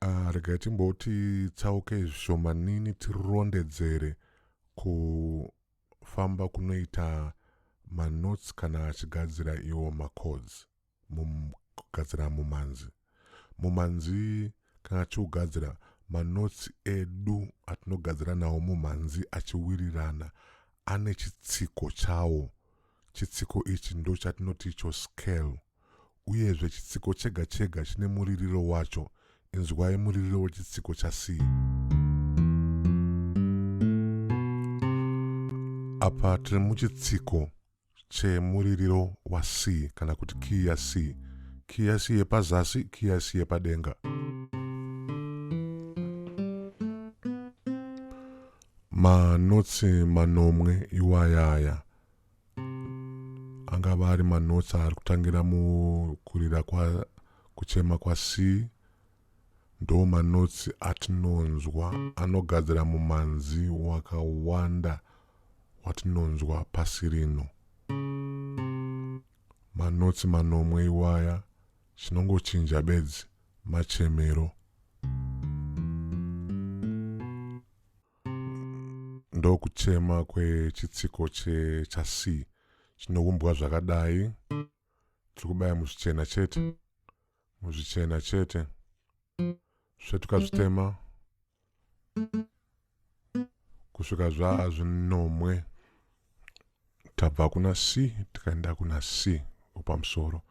Ah, rega timboti tsauke zvishomanini tirondedzere kufamba kunoita manotsi kana achigadzira iwo macods mugadzira mumanzi mumanzi kana tichigadzira manotsi edu atinogadzira nawo mumhanzi achiwirirana ane chitsiko chawo chitsiko ichi ndo chatinoti icho scale uyezve chitsiko chega chega chine muririro wacho inzwai muririro wechitsiko chasi apa tiri muchitsiko chemuririro wa C kana kuti kiyi ya C, kiyi ya C yepazasi, kiyi ya C yepadenga. Manotsi manomwe iwayaya angava ari manotsi ari kutangira mukurira kwa kuchema kwa C Ndo manotsi atinonzwa anogadzira mumanzi wakawanda watinonzwa pasi rino. Manotsi manomwe iwaya chinongochinja bedzi machemero. Ndokuchema kwechitsiko checha C chinoumbwa zvakadai. tiri kubaya muzvichena chete muzvichena chete svetuka zvitema kusvika zvaa zvinomwe tabva kuna c tikaenda kuna c opamusoro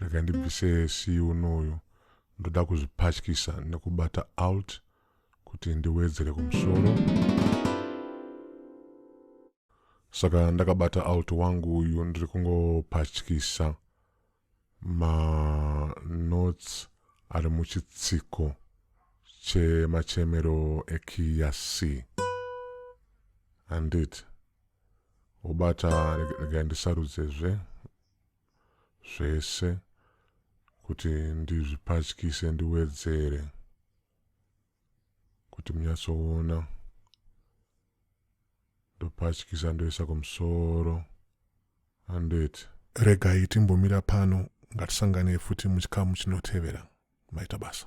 rega ndibvise c unoyu ndoda kuzvipatyisa nekubata out kuti ndiwedzere kumusoro Saka ndakabata alt wangu uyu ndiri kungopatyisa manotes ari muchitsiko chemachemero ekiya c handiti wobata regai ndisarudzezve zvese kuti ndizvipatyise ndiwedzere kuti munyatsoona ndopatyisa ndoisa kumusoro handeti regai timbomira pano ngatisanganei futi muchikamu chinotevera maita basa